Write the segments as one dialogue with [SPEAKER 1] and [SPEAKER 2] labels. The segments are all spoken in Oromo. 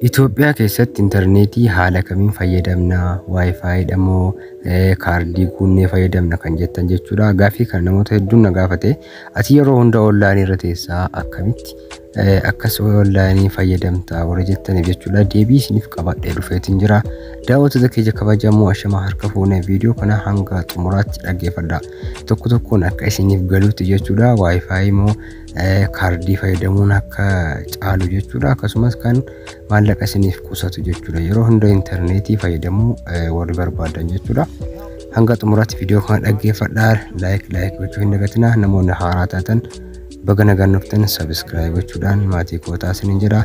[SPEAKER 1] Itoophiyaa keessatti intarneetii haala kamiin fayyadamna? Wi-Fi dha moo kaardii guunnee fayyadamna kan jettan jechuudha. Gaaffii kana namoota hedduun na gaafate. Ati yeroo hunda onlaayinii irra teessaa akkamitti akkas onlaayinii fayyadamta warra jettaniif jechuudha. Deebii isiniif qabadhee dhufeetiin jira. Daawwattoota keenya kabajamoo ashamaa harka fuunee viidiyoo kana hanga xumuraatti dhaggeeffadha. Tokko tokkoon akka isiniif galuutti jechuudha. Wi-Fi moo kaardii fayyadamuun akka caalu jechuudha akkasumas kan maallaqa isiniif qusatu jechuudha yeroo hunda intarneetii fayyadamuu warri barbaadan jechuudha hanga xumuraatti viidiyoo kana dhaggeeffadhaa laayik laayik gochuu hin dagatinaa namoonni haaraa taatan baga nagaan dhuftan sabiskiraayib gochuudhaan maatii kootaa isiniin jedha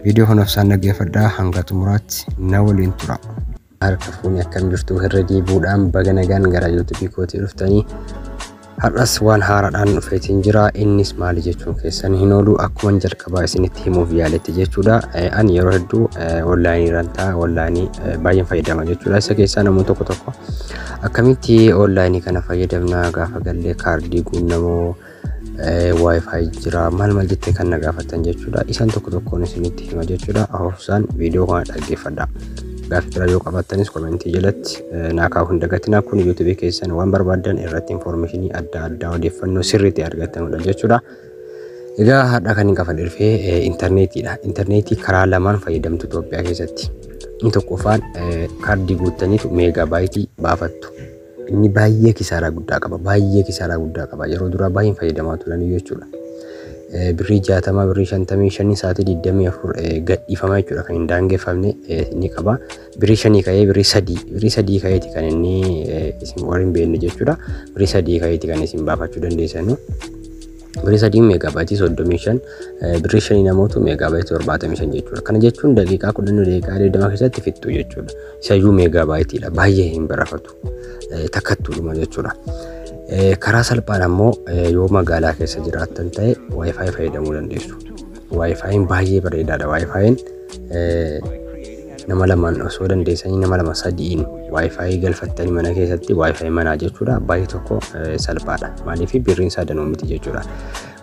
[SPEAKER 1] viidiyoo kanaaf isaan dhaggeeffadhaa hanga xumuraatti na waliin tura. Harka fuuni akkam jirtu irra deebi'uudhaan baga nagaan gara YouTube kootii dhuftanii har'as waan haaraadhaan dhufeetiin jira innis maali jechuun keessan hin oolu akkuma jalqabaa isinitti himuuf yaaletti jechuudha an yeroo hedduu onlaayinii rantaa onlaayinii baay'een fayyadama jechuudha isa keessaa namoonni tokko tokko akkamitti onlaayinii kana fayyadamna gaafa gallee kaardii guunnamoo wifi jira maal maal jettee kan na gaafattan jechuudha isaan tokko tokkoon isinitti hima jechuudha hafuufsaan viidiyoo kana dhaggeeffadha gaaffii biraa yoo qabaattanis komentii jalatti naa kaa'uu hin dagatinaa kun yuutuubii keessan waan barbaaddan irratti infoormeeshinii adda addaa odeeffannoo sirriitti argattanudha jechuudha egaa har'a kan hin qaban dhufee intarneetiidha intarneetii karaa lamaan fayyadamtu Itoophiyaa keessatti inni tokkoffaan kaardii guuttaniitu meegaa baayitii baafattu Inni baay'ee kisaaraa guddaa qaba. Baay'ee kisaaraa guddaa qaba. Yeroo duraa baay'een fayyadamaa turan iyyuu jechuudha. Eh, Birrii jaatama, birrii shantamii shanii sa'aatii digdamii afur eh, gadhiifama jechuudha kan hin daangeffamne eh, ni qaba. Birrii shanii ka'ee birrii sadii, birrii sadii ka'eeti kan inni eh, isin warri hin beekne jechuudha. Birrii sadii ka'eeti kan isin baafachuu dandeessanu. Birrii sadiin meegaabaayitii 35 birrii shaniin ammoo meegaabaayitii 75 jechuudha. Kana jechuun daqiiqaa 10 daqiiqaa 20 keessatti fixxu jechuudha. Isayyuu meegaabaayitiidha. Baay'ee hin barafatu. Takkattuudhuma jechuudha. Karaa salphaan ammoo yoo magaalaa keessa jiraattan ta'e waayifaayi fayyadamuu dandeessu. Waayifaayiin baay'ee bareedaadha. Waayifaayiin nama lamaan osoo dandeessanii nama lama sadi'iin waayifaayi galfattanii mana keessatti waayifaayi manaa jechuudha baay'ee tokko salphaadha maaliif birriin isaa danuu miti jechuudha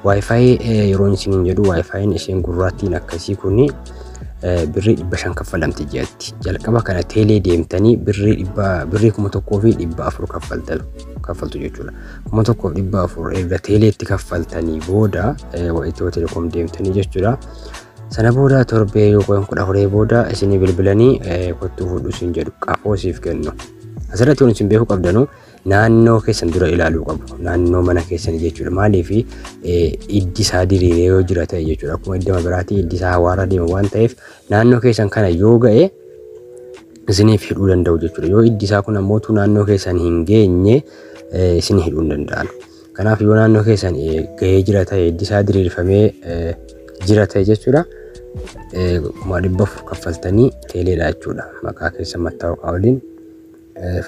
[SPEAKER 1] waayifaayi yeroon isiniin jedhu waayifaayiin isheen gurraattiin akkasii kuni birrii dhibba shan kaffalamti jedhatti jalqaba kana teelee deemtanii birrii dhibba birrii kuma tokkoo fi dhibba afur kaffaltan kaffaltu jechuudha kuma tokkoo dhibba afur erga teeleetti kaffaltanii booda itiyoo telekoom deemtanii jechuudha Sana booda torbee yookaan kudha afurii booda isinii bilbilanii kottuu fuudhu isin jedhu qafoo siif kennu. Asirratti kun isin beekuu qabdanu naannoo keessan dura ilaaluu qabu. Naannoo mana keessan jechuudha. Maaliif iddi isaa diriiree yoo jira ta'e jechuudha. Akkuma iddama biraatii iddi isaa hawaarra deema waan ta'eef naannoo keessan kana yoo ga'e isiniif hidhuu danda'u jechuudha. Yoo iddi isaa kun ammoo naannoo keessan hin geenye isin hidhuu hin danda'an. Kanaaf yoo naannoo keessan gahee jira ta'e hiddi isaa diriirfamee jira ta'e jechuudha. Kuma dhibba afur kaffaltanii teeleedha jechuudha. Maqaa keessa mattaawaqaa waliin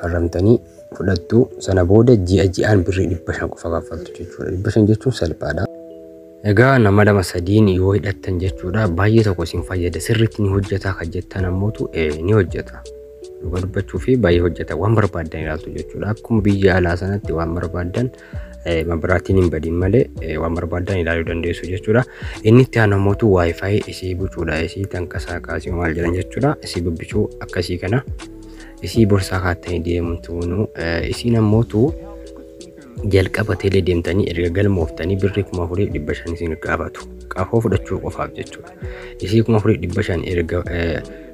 [SPEAKER 1] farramtanii fudhattu sana booda ji'a ji'aan birrii dhibba shan qofa kaffaltu jechuudha. Dhibba shan jechuun salphaadha. Egaa nama lama sadiin yoo hidhattan jechuudha baay'ee tokko isin fayyada sirriitti ni hojjetaa kan jettan ammootu ni hojjeta. Dhuga dubbachuu fi baay'ee hojjeta waan barbaaddan ilaaltu jechuudha akkuma biyya alaa sanatti waan barbaaddan mabiraatiin hin badin malee waan barbaaddan ilaaluu dandeessu jechuudha. Inni itti aanu ammootu waayifaayi isii bucuudha isii tankasaa kaasii maal jedhan jechuudha isii bubbicuu akkasii kana isii borsaa kaattanii deemuun tuunuu isiin ammootu Jalqaba teelee deemtanii erga galmooftanii birrii kuma afurii dhibba shan isin gaafatu. Qafoo fudhachuu qofaaf jechuudha. Isii kuma afurii dhibba shan erga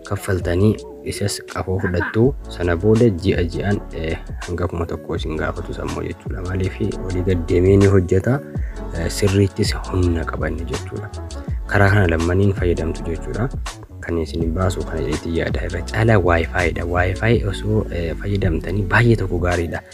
[SPEAKER 1] kaffaltanii isas qafoo fudhattu sana booda ji'a ji'aan hanga kuma tokko isin gaafatu sammoo jechuudha. Maaliif olii gad deemee ni hojjeta sirriittis humna qabanne jechuudha. Karaa kana lammaniin fayyadamtu jechuudha. Kan isin baasu kana itti yaada irra caalaa waayifaayiidha. Waayifaayi osoo fayyadamtanii baay'ee tokko gaariidha.